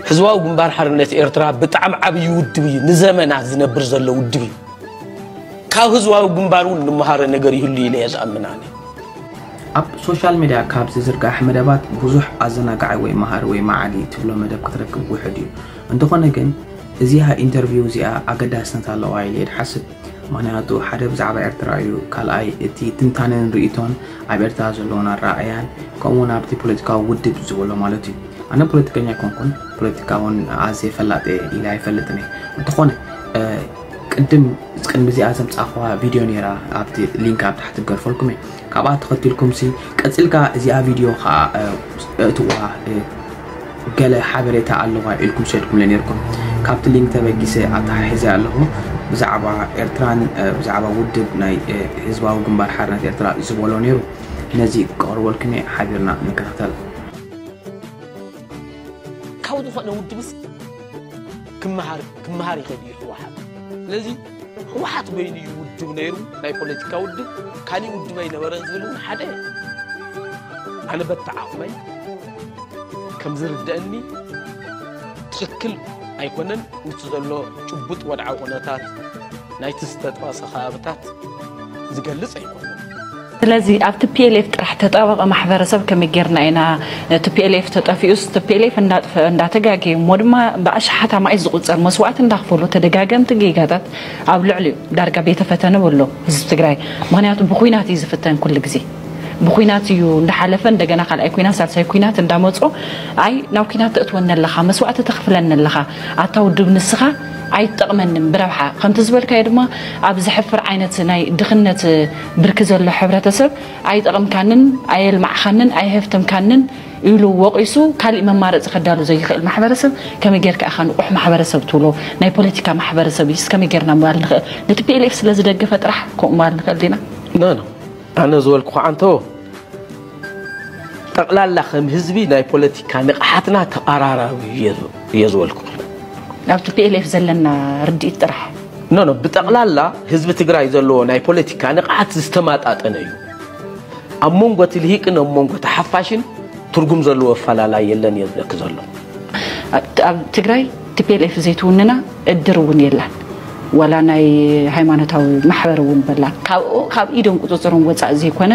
ህዝባዊ ግንባር ሓርነት ኤርትራ ብጣዕሚ ዓብዪ ውድብ እዩ። ንዘመናት ዝነብር ዘሎ ውድብ እዩ። ካብ ህዝባዊ ግንባር እውን ንመሃሮ ነገር ይህሉ ኢለ እየ ዝኣምን ኣነ። ኣብ ሶሻል ሚድያ ካብ ዝዝርጋሕ መደባት ብዙሕ ኣዘናጋዒ ወይ መሃሪ ወይ መዓዲ ትብሎ መደብ ክትረክብ ውሑድ እዩ። እንተኾነ ግን እዚኣ ኢንተርቪው እዚኣ ኣገዳስነት ኣለዋ ኢለ እየ ዝሓስብ። ምኽንያቱ ሓደ ብዛዕባ ኤርትራ እዩ፣ ካልኣይ እቲ ትንታነን ርኢቶን ኣብ ኤርትራ ዘለዎም ኣረኣእያን ከምኡ'ውን ኣብቲ ፖለቲካዊ ውድብ ዝበሎ ማለት እዩ። ኣነ ፖለቲከኛ ኣይኮንኩን ፖለቲካ ውን ኣዝየ ፈላጥ ኢለ ኣይፈልጥን እየ እንተኾነ ቅድም ቅድሚ እዚኣ ዘምፃእኹዋ ቪድዮ ነይራ ኣብቲ ሊንክ ኣብ ታሕቲ ገርፈልኩም እየ ካብኣ ተኸቲልኩም ሲ ቀፂልካ እዚኣ ቪድዮ ከዓ እእትዋ ገለ ሓበሬታ ኣለዋ ኢልኩም ሰድኩምለ ነርኩም ካብቲ ሊንክ ተበጊሰ ኣተሓሒዘ ኣለኹ ብዛዕባ ኤርትራን ብዛዕባ ውድብ ናይ ህዝባዊ ግንባር ሓርነት ኤርትራ ዝበሎ ነይሩ ነዚ ክቐርበልኩም እየ ሓቢርና ንከታተል ካብ ዝኾነ ውድብስ ክመሃር ክመሃር ይኽእል እዩ ህወሓት ስለዚ ህወሓት በይኑ እዩ ውድብ ነይሩ ናይ ፖለቲካ ውድብ ካሊእ ውድብ ኣይነበረን ዝብል እውን ሓደ ኣነ በቲ ዓቕመይ ከም ዝርደአኒ ትኽክል ኣይኮነን ምስ ዘሎ ጭቡጥ ወድዓዊ ኩነታት ናይቲ ዝተጠቐሰ ከባብታት ዝገልፅ ኣይኮነን ስለዚ ኣብ ቲፒኤልኤፍ ጥራሕ ተጣበቐ ማሕበረሰብ ከመይ ጌርና ኢና ቲፒኤልኤፍ ተጠፊኡስ ቲፒኤልኤፍ እንዳጥፈ እንዳተጋገየ እሞ ድማ ብኣሽሓት ኣማኢት ዝቑፀር መስዋእቲ እንዳኽፈሉ ተደጋገምቲ ጌጋታት ኣብ ልዕሊኡ ዳርጋ ቤተ ፈተነ በሎ ህዝቢ ትግራይ ምኽንያቱ ብኹናት እዩ ዝፍተን ኩሉ ግዜ ብኹናት እዩ እንዳሓለፈ እንደገና ካልኣይ ኩናት ሳልሳይ ኩናት እንዳመፆ ኣይ ናብ ኩናት ተእትወኒ ኣለኻ መስዋእቲ ተኽፍለኒ ኣለኻ ኣታ ውድብ ንስኻ ኣይትጠቕመንን ብረብሓ ከምቲ ዝበልካዮ ድማ ኣብ ዘሕፍር ዓይነት ናይ ድኽነት ብርኪ ዘሎ ሕብረተሰብ ኣይጠቕምካንን፣ ኣየልማዕኻንን፣ ኣየሀፍተምካንን ኢሉ ወቒሱ ካሊእ መማረፂ ከዳሉ ዘይኽእል ማሕበረሰብ ከመይ ገይርካ ኢኻ ንቑሕ ማሕበረሰብ ትብሎ? ናይ ፖለቲካ ማሕበረሰብ እዩስ ከመይ ገይርና ምባል ንኽእል? ንቲፒኤልኤፍ ስለዝደገፈ ጥራሕ ከምኡ ምባል ንኽእል ዲና? ኖኖ ኣነ ዝበልኩ ኻዓ እንተወ። ጠቕላላ ከም ህዝቢ ናይ ፖለቲካ ንቕሓትና ተቓራራቢ እዩ እየ ዝበልኩ። ናብ ቲፒኤልኤፍ ዘለና ርድኢት ጥራሕ ኖ ኖ ብጠቕላላ ህዝቢ ትግራይ ዘለዎ ናይ ፖለቲካ ንቕሓት ዝተማጣጠነ እዩ። ኣብ መንጎ እቲ ልሂቅን ኣብ መንጎ እቲ ሓፋሽን ትርጉም ዘለዎ ኣፈላላይ የለን እየ ዝብለኪ ዘሎ። ኣብ ትግራይ ቲፔሌፍ ዘይትውንና እድር እውን የላን ዋላ ናይ ሃይማኖታዊ ማሕበር እውን በላን ካብኡ ካብ ኢዶም ቁፅፅሮም ወፃእ ዘይኮነ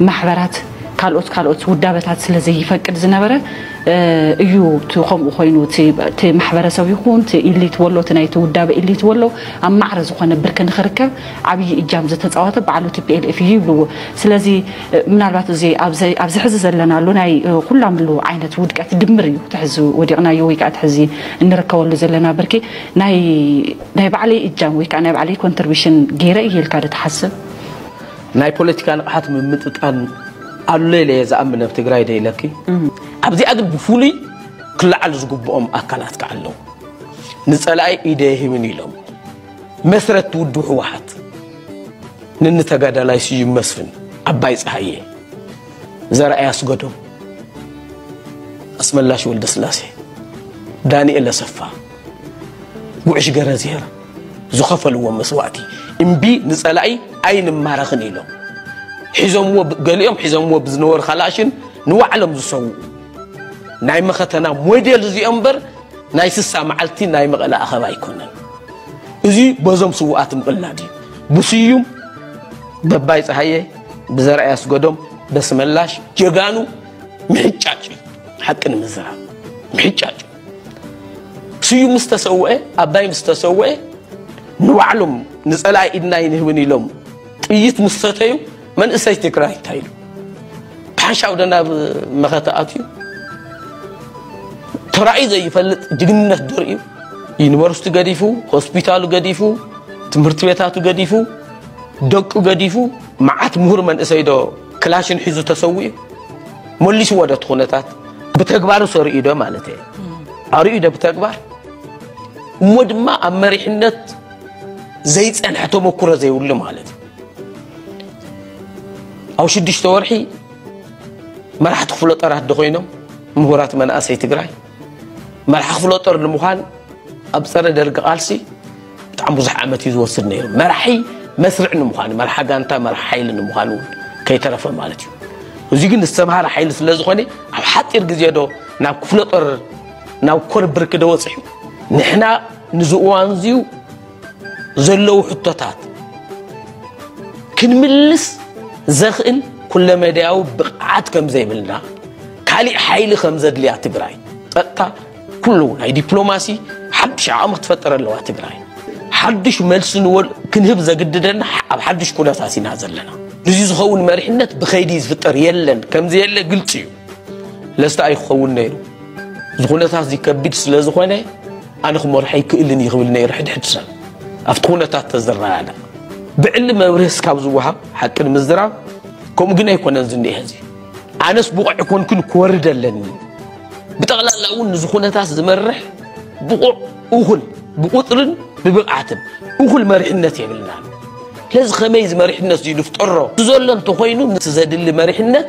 ማሕበራት ካልኦት ካልኦት ውዳበታት ስለ ዘይፈቅድ ዝነበረ እዩ እቲ ከምኡ ኮይኑ እቲ ማሕበረሰብ ይኹን እቲ ኢሊት ወሎ እቲ ናይቲ ውዳበ ኢሊት ወሎ ኣብ ማዕረ ዝኾነ ብርኪ ንክርከብ ዓብዪ እጃም ዝተፃወተ ባዕሉ ቲፒኤልኤፍ እዩ ይብልዎ ስለዚ ምናልባት እዚ ኣብዚ ሕዚ ዘለናሉ ናይ ኩላምሉ ዓይነት ውድቀት ድምር እዩ እቲ ሕዚ ወዲቕናዮ ወይ ከዓ እቲ ሕዚ እንርከበሉ ዘለና ብርኪ ናይ ባዕለይ እጃም ወይ ከዓ ናይ ባዕለይ ኮንትርቢሽን ገይረ እየ ኢልካ ዶ ትሓስብ? ናይ ፖለቲካ ንቕሓት ምምጥጣን ኣሎ ኢለ እየ ዝኣምን ኣብ ትግራይ ዶ ኢለኪ? ኣብዚኣ ግን ብፍሉይ ክለዓሉ ዝግብኦም ኣካላት ከዓ ኣለዉ። ንፀላኢ ኢደይ ኣይህብን ኢሎም። መስረቲ ውድብ ህወሓት ንኒ ተጋዳላይ ስዩም መስፍን፣ ኣባይ ፀሃየ፣ ዘርኣይ ኣስገዶም፣ ኣስመላሽ ወልደስላሴ፣ ዳንኤል ኣሰፋ፣ ጉዕሽ ገረዝሄር ዝኸፈልዎም መስዋእቲ እምቢ ንፀላኢ ኣይንማረኽን ኢሎም ሒዞምዎ ገሊኦም ሒዞምዎ ብዝነበሩ ካላሽን ንባዕሎም ዝሰውኡ ናይ መኸተና ሞዴል እዚኦም እምበር ናይ ስሳ መዓልቲ ናይ መቐለ ኣኸባ ኣይኮነን እዚ በዞም ስውኣት ምቕላድ እዩ ብስዩም በባይ ፀሃየ ብዘርኣይ ኣስገዶም በስመላሽ ጀጋኑ ምሕጫጭ እዩ ሓቂ ንምዝራብ ምሕጫጭ ስዩም ምስ ተሰውአ ኣባይ ምስ ተሰውአ ንባዕሎም ንፀላኢ ኢድና ይንህብን ኢሎም ጥይት ምስ ሰተዩ መንእሰይ ትግራይ እንታይ ኢሉ ብሓንሻው ዶ ናብ መኸተ ኣትዩ ተራእዩ ዘይፈልጥ ጅግንነት ደርእዩ ዩኒቨርሲቲ ገዲፉ ሆስፒታሉ ገዲፉ ትምህርቲ ቤታቱ ገዲፉ ደቁ ገዲፉ መዓት ምሁር መንእሰይ ዶ ክላሽን ሒዙ ተሰዊኡ መሊስዎ ዶ እቲ ኩነታት ብተግባሩ ሰርእዩ ዶ ማለት እየ ኣርእዩ ዶ ብተግባር እሞ ድማ ኣብ መሪሕነት ዘይፀንሐ ተመኩሮ ዘይብሉ ማለት እዩ ኣብ ሽዱሽተ ወርሒ መራሕቲ ክፍለ ጦራት ዶ ኮይኖም ምሁራት መናእሰይ ትግራይ መራሒ ክፍለ ጦር ንምዃን ኣብ ፀረ ደርጊ ቃልሲ ብጣዕሚ ብዙሕ ዓመት እዩ ዝወስድ ነይሩ መራሒ መስርዕ ንምዃን መርሓ ጋንታ መርሓ ሓይሊ ንምዃን እውን ከይተረፈ ማለት እዩ እዚ ግን ዝተምሃረ ሓይሊ ስለ ዝኾነ ኣብ ሓፂር ግዜ ዶ ናብ ክፍለ ጦር ናብ ኮር ብርኪ ዶ ወፂሑ ንሕና ንዚ እዋን እዚዩ ዘለዉ ሕቶታት ክንምልስ ዘኽእል ኩለመዳያዊ ብቕዓት ከም ዘይብልና ካሊእ ሓይሊ ከም ዘድልያ ትግራይ ጸጥታ ኩሉ ናይ ዲፕሎማሲ ሓድሽ ዓቕሚ ክትፈጥር ኣለዋ ትግራይ ሓድሽ መልሲ ንወል ክንህብ ዘግድደና ኣብ ሓድሽ ኩነታት ኢና ዘለና ንዚ ዝኸውን መሪሕነት ብኸይዲ ዝፍጠር የለን ከምዘየለ ግልፂ እዩ ለስተ ኣይክኸውን ነይሩ እዚ ኩነታት እዚ ከቢድ ስለ ዝኾነ ኣነ ክመርሖ ኣይክእልን እዩ ክብል ነይሩ ሕድሕድ ሰብ ኣብቲ ኩነታት ተዝረኣና ብዕሊ መብርህስ ካብ ዝወሃብ ሓቂ ንምዝራብ ከምኡ ግን ኣይኮነን ዝኒሀ እዚ ኣነስ ብቑዕ ኮንኩን ክወርድ ኣለኒ ብጠቕላላ እውን ንዚ ኩነታት ዝመርሕ ብቑዕ እኹል ብቁፅርን ብብቕዓትን እኹል መሪሕነት የብልና ስለዚ ከመይ እዚ መሪሕነት እዚ ንፍጠሮ ዘሎ እንተኮይኑ ምስ ዘድሊ መሪሕነት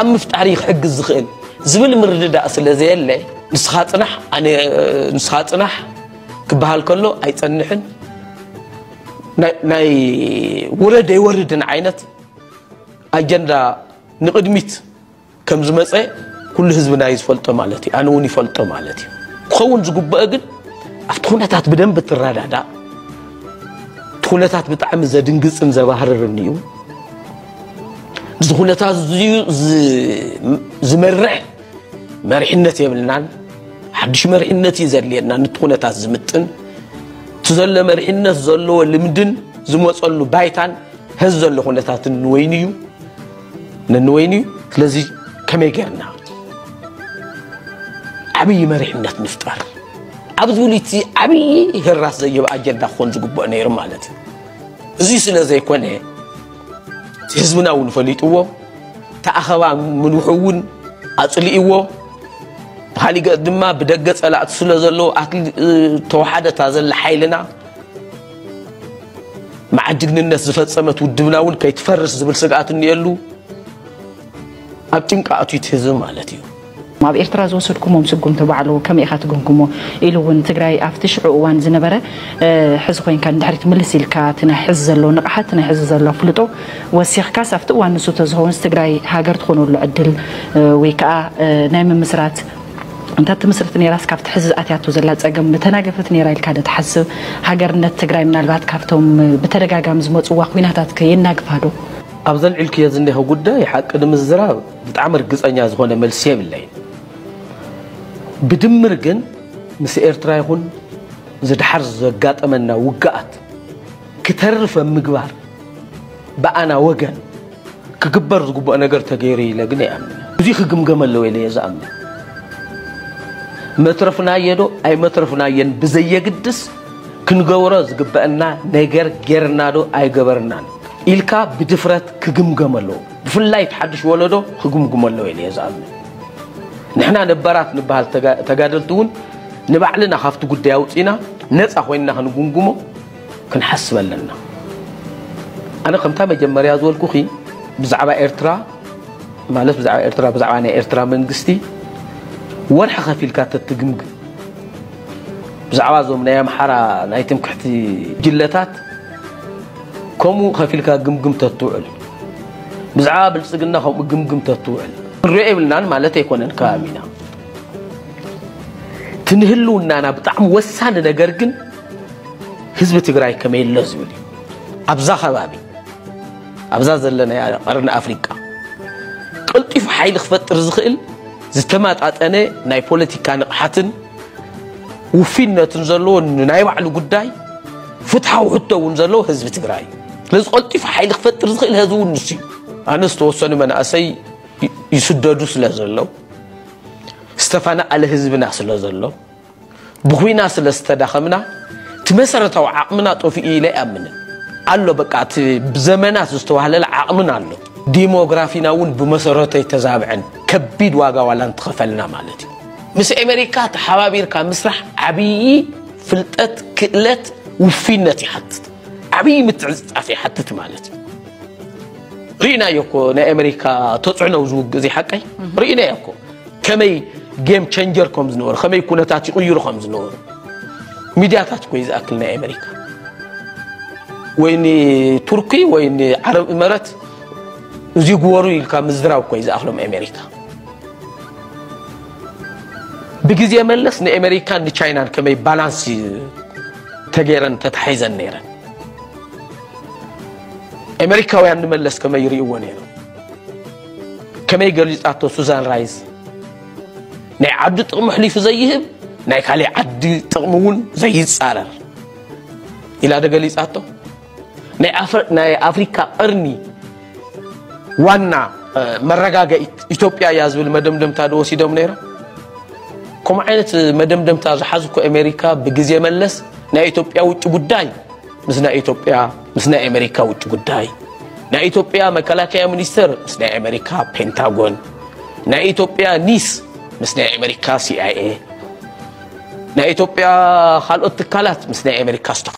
ኣብ ምፍጣር እዩ ክሕግዝ ዝኽእል ዝብል ምርድዳእ ስለ ዘየለ ንስኻ ፅናሕ ኣነ ንስኻ ፅናሕ ክበሃል ከሎ ኣይፀንሕን ናይ ውረድ ኣይወርድን ዓይነት ኣጀንዳ ንቕድሚት ከም ዝመፀ ኩሉ ህዝብና እዩ ዝፈልጦ ማለት እዩ ኣነ እውን ይፈልጦ ማለት እዩ ክኸውን ዝግበኦ ግን ኣብቲ ኩነታት ብደንብ ትረዳዳእ እቲ ኩነታት ብጣዕሚ ዘድንግፅን ዘባህርርን እዩ እዚ ኩነታት እዚዩ ዝመርሕ መሪሕነት የብልናን ሓድሽ መሪሕነት እዩ ዘድልየና ንቲ ኩነታት ዝምጥን እቲ ዘሎ መሪሕነት ዘለዎ ልምድን ዝመፀሉ ባይታን ህዚ ዘሎ ኩነታት ንወይኑ እዩ ንወይኑ እዩ ስለዚ ከመይ ጌርና ዓብዪ መሪሕነት ንፍጠር ኣብ ዝብሉ እቲ ዓብዪ ህራስ ዘይህብ ኣጀንዳ ክኾን ዝግብኦ ነይሩ ማለት እዩ እዚ ስለ ዘይኮነ ህዝብና እውን ፈሊጥዎ እቲ ኣኸባ ምንውሑ እውን ኣፅሊእዎ ብካሊእ ገፅ ድማ ብደገ ፀላእቲ ስለ ዘለዎ ተዋሓደታ ዘላ ሓይልና መዓት ጅግንነት ዝፈፀመት ውድብና እውን ከይትፈርስ ዝብል ስግኣት እኒኤሉ ኣብ ጭንቃ ኣትዩት ህዝቢ ማለት እዩ ኣብ ኤርትራ ዝወሰድኩሞም ስጉምቲ ባዕሉ ከመይ ኢኻ ትግምግሞ ኢሉ እውን ትግራይ ኣብቲ ሽዑ እዋን ዝነበረ ሕዚ ኮይንካ ንድሕሪት ምልስ ኢልካ እቲ ናይ ሕዚ ዘሎ ንቕሓት እቲ ናይ ሕዚ ዘሎ ኣፍልጦ ወሲኽካስ ኣብቲ እዋን ንሱ ተዝኸውንስ ትግራይ ሃገር ትኾነሉ ዕድል ወይ ከዓ ናይ ምምስራት እንተ ትምስርት ነይራስ ካብቲ ሕዚ ዝኣትያቶ ዘላ ፀገም ምተናገፈት ነይራ ኢልካ ዶ ትሓስብ? ሃገርነት ትግራይ ምናልባት ካብቶም ብተደጋጋሚ ዝመፅዋ ኹናታት ከ የናግፋ ዶ? ኣብዚ ኣልዒልክዮ ዝኒሀ ጉዳይ ሓቂ ንምዝራብ ብጣዕሚ ርግጸኛ ዝኾነ መልሲ የብለይን ብድምር ግን ምስ ኤርትራ ይኹን እዚ ድሓር ዘጋጠመና ውግኣት ክተርፍ ኣብ ምግባር ብኣና ወገን ክግበር ዝግብኦ ነገር ተገይሩ ኢለ ግን ኣይኣምንን እዚ ክግምገም ኣለዎ ኢለ እየ ዝኣምን መትረፍናዮ ዶ ኣይመትረፍናዮን ብዘየግድስ ክንገብሮ ዝግበአና ነገር ጌርና ዶ ኣይገበርናን ኢልካ ብድፍረት ክግምገም ኣለዎ ብፍላይ እቲ ሓዱሽ ወለዶ ክግምግሞ ኣለዎ ኢለ'የ ዝኣምን። ንሕና ነባራት ንበሃል ተጋደልቲ እውን ንባዕልና ካብቲ ጉዳይ ኣውጺእና ነጻ ኮይንና ክንግምግሞ ክንሓስብ ኣለና። ኣነ ከምታ መጀመርያ ዝበልኩኺ ብዛዕባ ኤርትራ ማለት ብዛዕባ ኤርትራ ብዛዕባ ናይ ኤርትራ መንግስቲ ወርሒ ከፊልካ ተትግምግም ብዛዕባ እዞም ናይ ኣምሓራ ናይ ትምክሕቲ ጅለታት ከምኡ ከፊልካ ግምግም ተትውዕል ብዛዕባ ብልፅግና ከምኡ ግምግም ተትውዕል ንሪኦ የብልናን ማለት ኣይኮነን ከባቢና እቲ ንህልውናና ብጣዕሚ ወሳኒ ነገር ግን ህዝቢ ትግራይ ከመይ ኣሎ ዝብል እዩ ኣብዛ ከባቢ ኣብዛ ዘለና ቀርኒ ኣፍሪቃ ቀልጢፉ ሓይሊ ክፈጥር ዝኽእል ዝተመጣጠነ ናይ ፖለቲካ ንቕሓትን ውፊነትን ዘለዎ ናይ ባዕሉ ጉዳይ ፍትሓዊ ሕቶ እውን ዘለዎ ህዝቢ ትግራይ እዩ ስለዚ ቀልጢፉ ሓይሊ ክፈጥር ዝኽእል ህዝቢ እውን ንሱ እዩ ኣነ ዝተወሰኑ መናእሰይ ይስደዱ ስለ ዘለው ዝተፈናኣለ ህዝብና ስለ ዘሎ ብኩና ስለ ዝተዳኸምና እቲ መሰረታዊ ዓቕምና ጠፍኡ ኢለ ኣይኣምንን ኣሎ በቃ እቲ ብዘመናት ዝተዋህለለ ዓቕምና ኣሎ ዲሞግራፊና እውን ብመሰረቱ ኣይተዛብዐን ከቢድ ዋጋ ዋላ እንትኸፈልና ማለት እዩ ምስ ኤመሪካ ተሓባቢርካ ምስራሕ ዓብዪ ፍልጠት፣ ክእለት፣ ውፍይነት ይሓትት። ዓብዪ ምትዕጽጻፍ ይሓትት ማለት እዩ። ርኢናዮ እኮ ናይ ኤመሪካ ተጽዕኖ ዝውግእ ዘይሓቀይ ርኢናዮ እኮ ከመይ ጌም ቸንጀር ከም ዝነበሩ ከመይ ኩነታት ይቕይሩ ከም ዝነበሩ ሚድያታት እኮ እዩ ዝኣክል ናይ ኤመሪካ ወይ ንቱርኪ ወይ ንዓረብ እመረት እዚ ግበሩ ኢልካ ምዝራብ እኮ እዩ ዝኣኽሎም ኤመሪካ ብግዜ መለስ ንኤመሪካን ንቻይናን ከመይ ባላንስ ተገይረን ተታሒዘን ነይረን ኤመሪካውያን ንመለስ ከመይ ይርእይዎ ነይሮም ከመይ ገሊጻቶ ሱዛን ራይዝ ናይ ዓዱ ጥቕሚ ሕሊፉ ዘይህብ ናይ ካልእ ዓዲ ጥቕሚ እውን ዘይጻረር ኢላ ዶ ገሊጻቶ ናይ ኣፍሪካ ቐርኒ ዋና መረጋገኢት ኢትዮጵያ እያ ዝብል መደምደምታ ዶ ወሲዶም ነይሮም? ከምኡ ዓይነት መደምደምታ ዝሓዙ እኮ ኣሜሪካ ብግዜ መለስ ናይ ኢትዮጵያ ውጭ ጉዳይ ምስ ናይ ኢትዮጵያ ምስ ናይ ኣሜሪካ ውጭ ጉዳይ ናይ ኢትዮጵያ መከላከያ ሚኒስተር ምስ ናይ ኣሜሪካ ፔንታጎን ናይ ኢትዮጵያ ኒስ ምስ ናይ ኣሜሪካ ሲኣይኤ ናይ ኢትዮጵያ ካልኦት ትካላት ምስ ናይ ኣሜሪካ